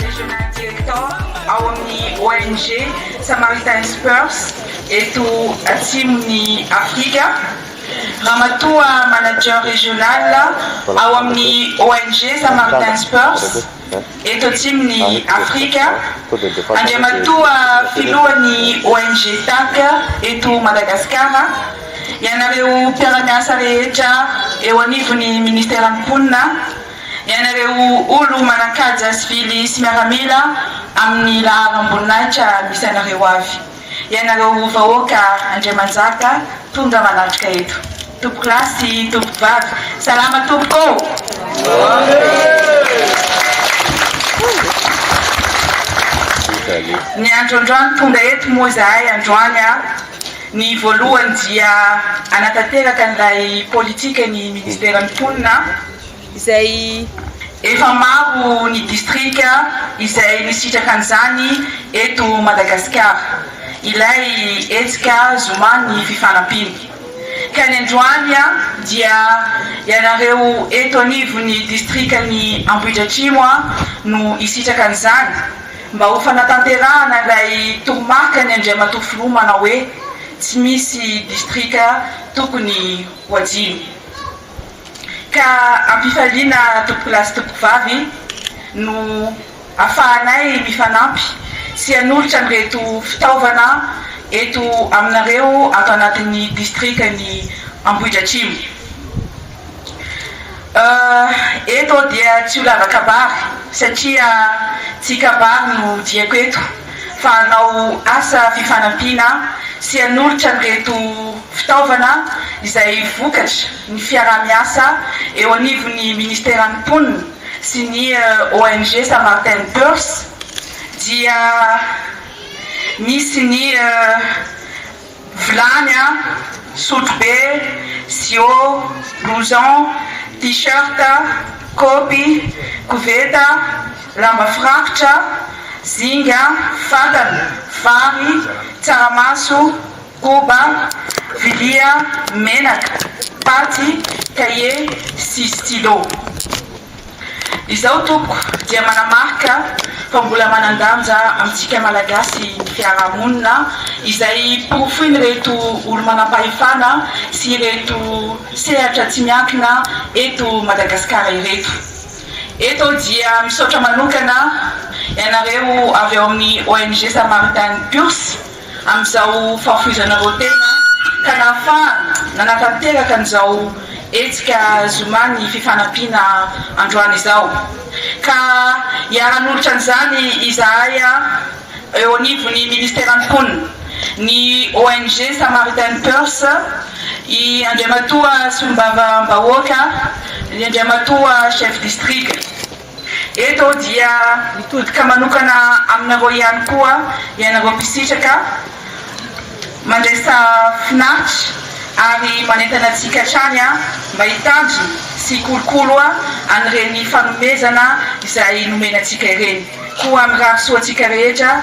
Regional Director ao amin'ny ONG Samaritan's Purse eto Atsimon'i Afrika, Ramatoa Manager Regional ao amin'ny ONG Samaritan's Purse eto Atsimon'i Afrika, Andriamatoa Filohan'ny ONG TAC eto Madagasikara, ianareo mpiara-miasa rehetra eo anivon'ny Ministeran'ny Mponina, ianareo olo manankaja sivily sy miaramila amin'ny laharam-boninahitra misy anareo avy, ianareo vahoaka Andriamanjaka tonga manatrika eto. Tompoko lahy sy tompoko vavy, salama tompoko ô! Ny andro androany tonga eto moa izahay androany, ny voalohany dia hanatanteraka an'ilay politikan'ny Ministeran'ny Mponina, izay. Efa maro ny distrika izay nisitraka an'izany eto Madagasikara ilay hetsika Zoman'ny Fifanampiana, ka ny androany dia ianareo eto anivon'ny distrikan'i Ambohidratrimo no hisitraka an'izany mba ho fanatanterahana ilay toromarkan'ny Andriamatoa Filoha manao hoe tsy misy distrika tokony ho hajiany. ka ampifaliana tompokolahy sy tompokovavy no afahanay mifanampy sy hanolotra an'ireto fitaovana eto aminareo ato anatin'ny distrikan'i Ambohidratrimo. Eto aho dia tsy ho lava kabary satria tsy kabary no diako eto. fa hanao asa fifanampiana sy hanolotra an'ireto fitaovana izay vokatry ny fiaraha-miasa eo anivon'ny Ministeran'ny Mponina sy ny ONG Samaritain Purse dia misy ny vilany a, sotrobe, siô, blouson, t-shirt, kôpy, koveta, lamba firakotra, zinga, fatana, vary, tsaramaso, koba, vilia, menaka, paty, kahie sy stylo. Izao tompoko dia manamarika fa mbola manan-danja amintsika Malagasy ny fiaraha-monina izay porofoin'ireto olo-manam-pahefana sy ireto sehatra tsy miankina eto Madagasikara ireto. Eto dia misaotra manokana ianareo avy ao amin'ny ONG Samaritain Purs. amin'izao fahafoizanareo tena ka nahafahana nanatanteraka an'izao hetsika zoma ny fifanampiana androany izao. Ka hiara-hanolotra an'izany izahay eo anivon'ny Ministeran'ny Mponina, ny ONG Samaritain Purse, i Andriamatoa Solombavambahoaka, ny Andriamatoa Chef District. Eto dia mitodika manokana aminareo ihany koa ianareo mpisitraka mandraisa finaritra ary manentana antsika hatrany mba hitandrina sy hikolokolo an'ireny fanomezana izay nomena antsika ireny. Koa mirary soa antsika rehetra.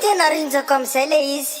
Tena rinjako amizay le izy.